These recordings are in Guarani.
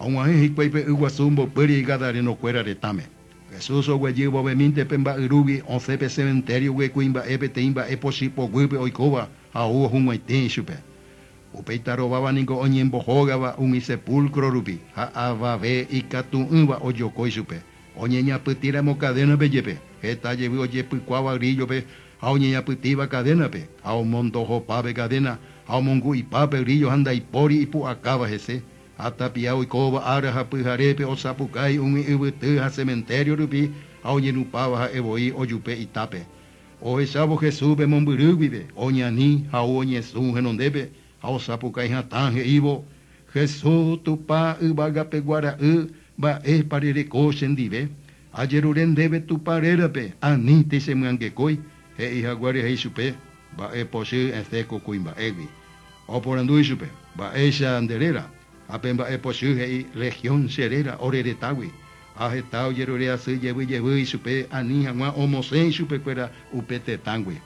Ha og̃uahẽ hikuái pe yguasu omboypýri gadarénokuéra retãme. Jesús oguejy vovemínte pe mba'yrúgui, osẽ pe sementério-gui kuimba'e peteĩ mba'e pochy poguýpe oikóva ha ou ohug̃uaitĩ ichupe. Upéi tarováva ningo oñembohógava umi sepúlkro rupi ha avave ikatu'ỹva ojoko ichupe, oñeñapytĩramo kadénape jepe, heta jevy ojepykuáva gríllope ha oñeñapytĩva kadénape, ha omondo ohopa pe kadéna, ha omongu'ipa pe gríllo ha ndaipóri ipu'akáva hese, ha tapia oikóva ára ha pyharépe osapukái umi yvyty ha sementério rupi ha oñenupáva ha'e voi ojupe itápe. Ohechávo Jesús pe mombyry guive, oñani, ha'u oñesũ henondépe, ha osapukái hatã he'ívo, Jesús, Tupã Yvagapeguara'y, mba'épa rereko chendive? Ajerure ndéve Tupã rérape, aníntei chemyangekói, he'i haguére ha ichupe, Mba'e pochy esẽ ko kuimba'égui. Oporandu ichupe, Mba'éicha nde réra? Ha pe mba'e pochy he'i, Legión che réra, ore retãgui. Ha heta ojerure asy jevy jevy ichupe, ani hag̃ua omosẽ ichupekuéra upe tetãgui.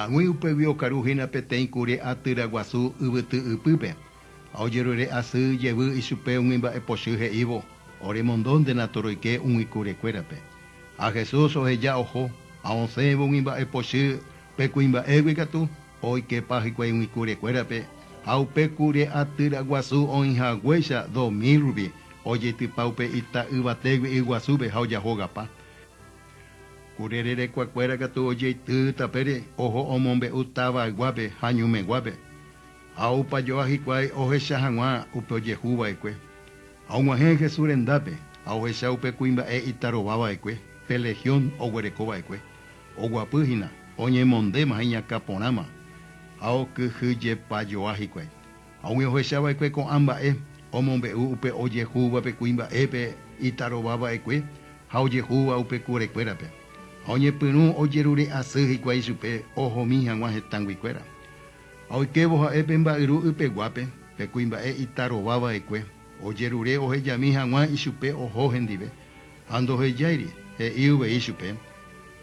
Ag̃ui upégui okaru hína peteĩ kure atyra guasu yvyty ypýpe, ha ojerure asy jevy ichupe umi mba'e pochy he'ívo, Oremondo nde natoroike umi kure kuérape. Ha Jesús oheja oho, ha osẽvo umi mba'e pochy pe kuimba'égui katu, oikepa hikuái umi kure kuérape, ha upe kure atyra guasu oĩ haguéicha dos mil rupi, ojeitypa upe ita yvatégui y guasúpe ha ojahogapa. Kure rerekuakuéra katu ojeity tapére oho omombe'u tavayguápe ha ñumeguápe, ha opa joa hikuái ohecha hag̃ua upe ojehu va'ekue. Ha og̃uahẽ Jesús rendápe ha ohecha upe kuimba'e itarova va'ekue pe legión oguereko va'ekue, oguapy hína, oñemondéma ha iñakã porãma, ha okyhyjepa joa hikuái. Ha umi ohecha va'ekue ko'ã mba'e, omombe'u upe ojehúva pe kuimba'épe itarova va'ekue ha ojehúva upe kurekuérape, ha oñepyrũ ojerure asy hikuái chupe ohomi hag̃ua hetãgui kuéra. Ha oikévo ha'e pe mba'yru ypeguápe, pe kuimba'e itarova va'ekue, ojerure ohejami hag̃ua ichupe oho hendive, ha ndohejáiri, he'i uvei chupe,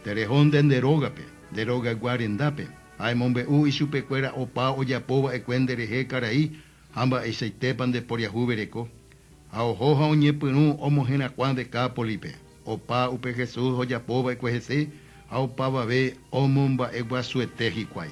Tereho nde nde rógape, nde rogagua rendápe. Ha emombe'u ichupekuéra opa ojapo va'ekue nde rehe karai ha mba'eichaitépa nde poriahuvereko. Ha oho ha oñepyrũ omoherakuã Decápolipe, opa upe Jesús ojapo va'ekue hese ha opavave omomba'eguasuete hikuái.